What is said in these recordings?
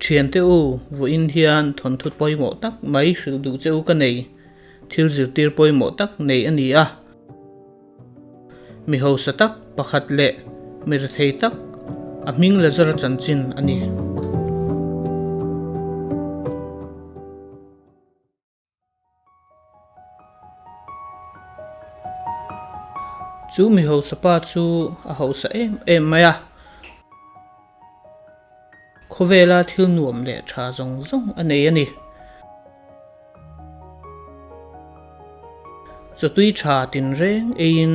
Thiante u, vawiin hian thawnthu pawimawh tak mai hrilh duh che u ka nei, thil zirtir pawimawh tak nei a ni a. Mi hausa tak pakhat leh mir thei tak a hming la zar chanchin a ni. Chu mi hausa pa chu a hausa em em mai a. Khawvela thil nuam leh tha zawng zawng a nei a ni. Chawtui tha tinreng eiin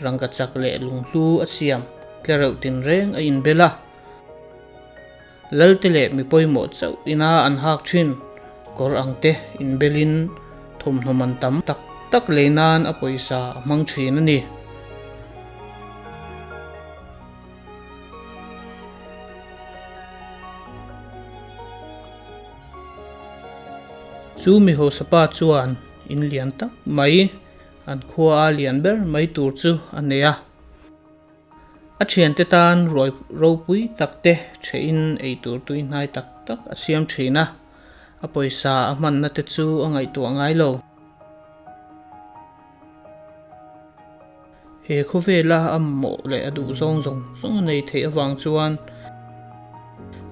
rangka chak leh lunghlu a siam tle reuh tinreng a inbel a. Lalte leh mi pawimawh chauh ina an hak thin. Kawr ang te inbelin thawmhnaw man tam tak tak lei nan a pawisa a hmang thin a ni. Chu mi hosapa chuan in lian tak mai an khua a lian ber mai tur chu a nei a. A thiante tan ruai ropui tak te thein ei tur tui hnai tak tak a siam thin a, a pawisa a hmanna te chu a ngaihtuah ngai lo. He khawvela a mawh leh a duh zawng zawng zawng a nei theih avang chuan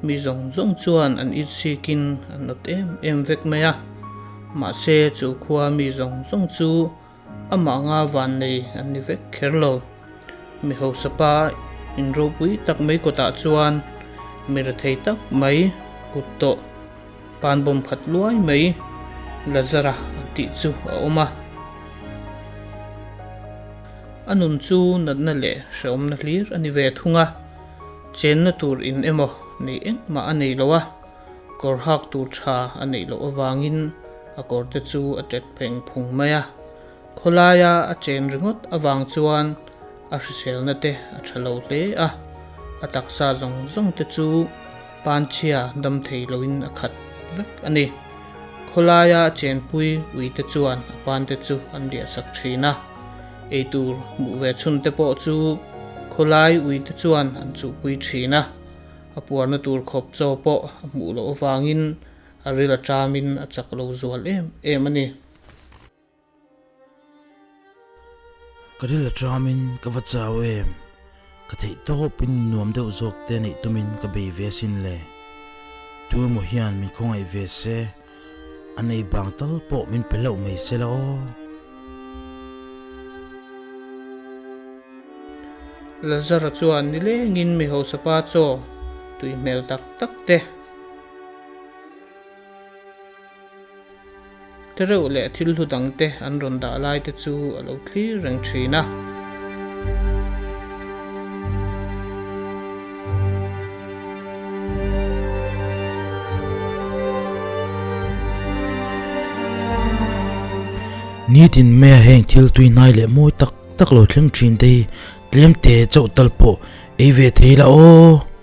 mi zawng zawng chuan an insikin an nawt em em vek mai a. Mahse chu khua mi zawng zawng chu amah nga van nei an ni vek kher lo. Mi hausa pa in ropui tak mai kawtah chuan mi rethei tak mai hut tawh. Pan bawm khat luai mai Lazara tih chu a awm a. A nun chu natna leh hrehawmna hlir a ni ve thung a, chenna tur in emaw nei engmah a nei lo a, kawr hak tur tha a neih loh avangin a kawrte chu a tet pheng phung mai a. Khawlaia a chen ringawt avang chuan a hriselna te a tha lo hle a, a taksa zawng zawng te chu panchhia dam thei loin a khat vek a ni. Khawlaia a chenpui ui te chuan a pan te chu an diahsak thin a, ei tur hmuh ve chhun te pawh chu khawlai ui te chuan an chuhpui thin a, a puarna tur khawp chaw pawh a hmuh loh avangin a ril a ṭamin a chak lo zual em em a ni. Ka ril a ṭam in ka va chau em? Ka theihtawp in nuam deuh zawk te neih tum in ka bei ve a sin le. Tua maw hian min khawngaih ve se, a nei bang tal pawh min pe hlauh mai se la aw. Lazara chuan ni leng in mi hausa pa chaw tui hmel tak tak te. te reuh leh thil hlu dang te an rawn dah lai te chu a lo thlir reng thin a. Nitin mai a heng thil tui hnai leh mawi tak tak lo thleng thin te hi tlem te chauh tal pawh ei ve thei la aw.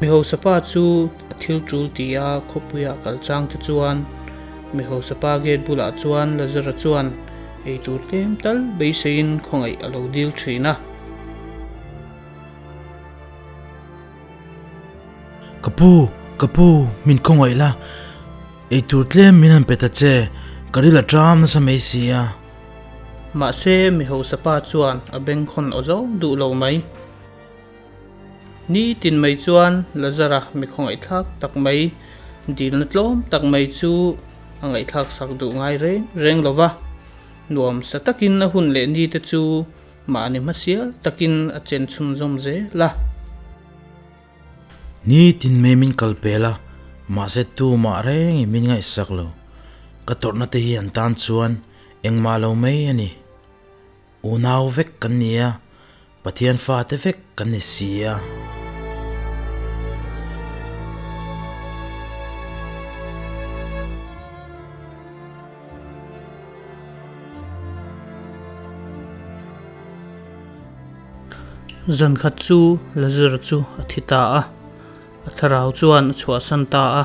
Mihosapa chu a thil tul ti a, khawpuia a kal chang te chuan Mihosapa gate bulah chuan Lazara chuan eitur tlem tal beiseiin khawngaih a lo dil thin a. Ka pu, ka pu, min khawngaih la, eitur tlem min han pe ta che, ka ri la ṭam nasa mai si a. Mahse, Mihosapa chuan a bengkhawn awh zo duh lo mai. Ni tin mai chuan Lazara mikhaw ngaihthlak tak mai dilna tlawm tak mai chu a ngaihthlak sak duh ngai reng reng lo va. Nuam sa takin a hun leh ni te chu mahni hmasial takin a chen chhun zawm zel a. Ni tin mai min kal pel a, mahse tumah reng in min ngaih sak lo. Ka tawrhna te hian tan chuan engmah lo mai a ni. Unau vek kan ni a, Pathian fate vek kan ni si a. Zan khat chu Lazar chu a thi ta a, a thlarau chuan a chhuahsan ta a.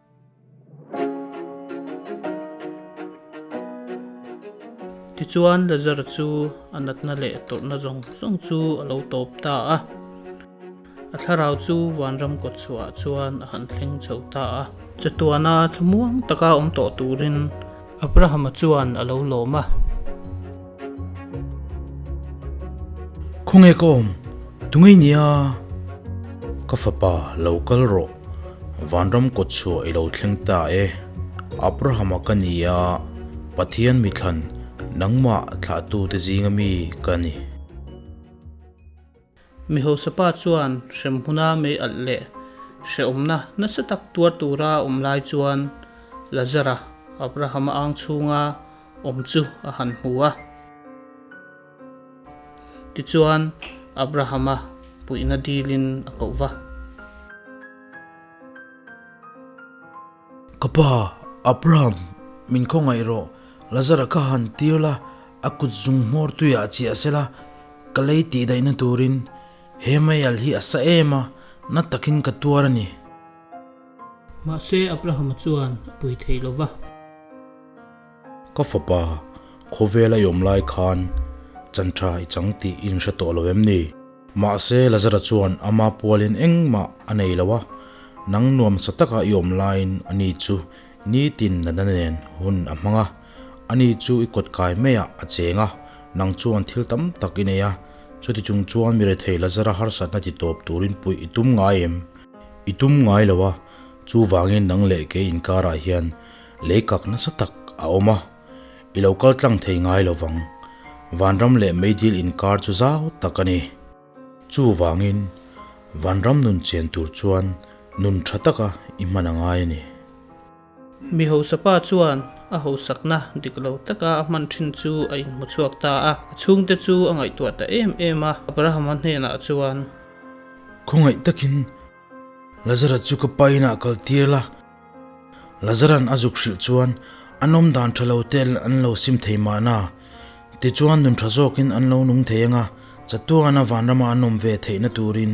Tichuan Lazar chu a natna leh tawrhna zawng zawng chu a lo tawp ta a. A thlarau chu vanram kawt chhuah ah chuan a han thleng chho ta a. Chatuana thla muang taka awm tawh turin Abrahama chuan a lo lawm a. Khawnge ka awm? Tunge nia? Ka fapa, lo kal rawh. Vanram kawt chhuah i lo thleng ta e. Abrahama ka ni a, Pathian mithlan nangmah thlahtute zinga mi ka ni. Mi hausaPa chuan hrem huna mei alh leh hrehawmna nasa tak tuar tura awm lai chuan Lazara Abrahama âng chhunga awm chu a han hmu a. Tichuan Abrahama puihna dilin a koh va. Ka pa, Abraham, min khaw ngaih rawh, Lazara kha han tir la, a kut zung hmawr tuiah a chiah se la, ka lei tih daihna turin, he maial hi a sa em a, na takin ka tuar a ni. Mahse, Abraham-a chuan a pui thei lo va. Ka fapa, khawvela i awm lai khan chantha i chang tih in hre tawh lo em ni? Mahse Lazara chuan ama pualin engmah a nei lo a, nang nuam sa taka i awm laiin a ni chu nitin nana nen hun a hmang a, a ni chu i kawt kai maiah a cheng a, nang chuan thil tam tak i nei a, chuti chung chuan mi rethei Lazara harsatna ti tawp turin puih i tum ngai em? I tum ngai lo a, chuvangin nang leh ke inkarah hian Lei kak nasa tak a awm a, i lo kal tlang thei ngai lo vang. Vanram leh meidil inkar chu zau tak a ni. Chuvangin, vanram nun chen tur chuan nun tha taka i hman a ngai a ni. Mi hausa pa chuan a hausakna dik lo taka a hman thin chu a inhmu chhuak ta a, a chhungte chu a ngaihtuah ta em em a, Abrahama hnenah chuan. Khawngaih takin. Lazara chu ka pa inah kal tir la. Lazaran a zuk hrilh chuan an awm dan tha lo tel an lo sim thei mahna. Tichuan nun tha zawkin an lo nung thei ang a, chatuana vanrama an awm ve theihna turin.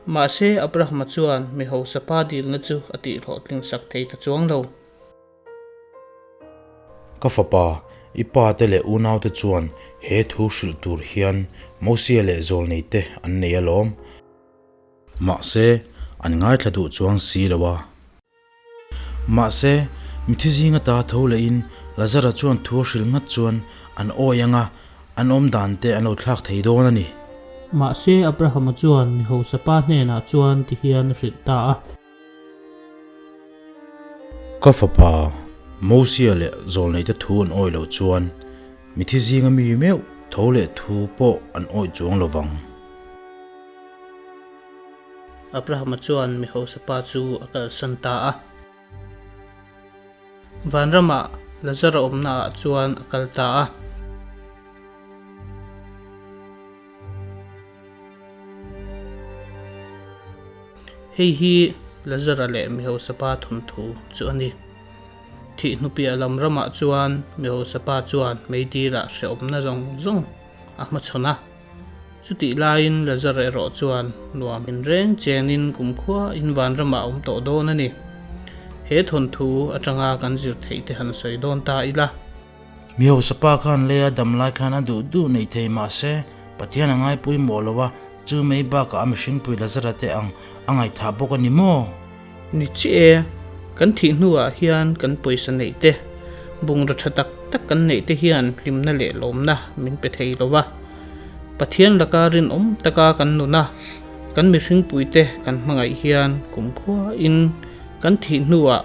Mahse, Abrahama chuan mi hausapa dilna chu a tih hlawhtling sak thei ta chuang lo. Ka fapa, i pate leh unaute chuan he thu hrilh tur hian Mosea leh zawlneite an nei alawm. Mahse, an ngaithla duh chuang si lo a. Mahse, mithi zinga ta tho lehin Lazara chuan thu a hril nghat chuan an awi ang a, an awmdan te an lo thlak thei dawn a ni. Mahse, Abrahama chuan mi hausa pa hnenah chuan ti hian a hrilh ta a. Ka fapa Mosia leh Zawlneite thu an awih lo chuan mithi zinga mi meuh tho leh thu pawh an awih chuang lo vang. Abrahama chuan mi hausa pa chu a kalsan ta a. Vanrama Lazara awmna ah chuan a kal ta a. Hei hi Lazara leh mi hausapa thawmthu chu a ni. Thih hnupiah lam ramah chuan mi hausapa chuan meitilah hrehawmna zawng zawng a hmachhawn a. Chutih laiin Lazara erawh chuan nuam in reng chenin kumkhua in van ramah a awm tawh dawn a ni. He thawnthu atanga kan zirtheite han sawi dawn ta ila. Mi hausa pa khan lei a dam lai khan a duh duh neih thei mah se, Pathian a ngaipui mawh lo a, chu mai bakah a mihringpui la zara te ang a ngaithah bawk a ni maw? Ni chiah e, kan thih hnuah hian kan pawisa neih te, bungraw tha tak tak kan neih te hian hlimna leh lawmna min pe thei lo a. Pathian laka rinawm taka kan nun a, kan mihringpui te kan hmangaih hian kumkhuain kan thih hnuah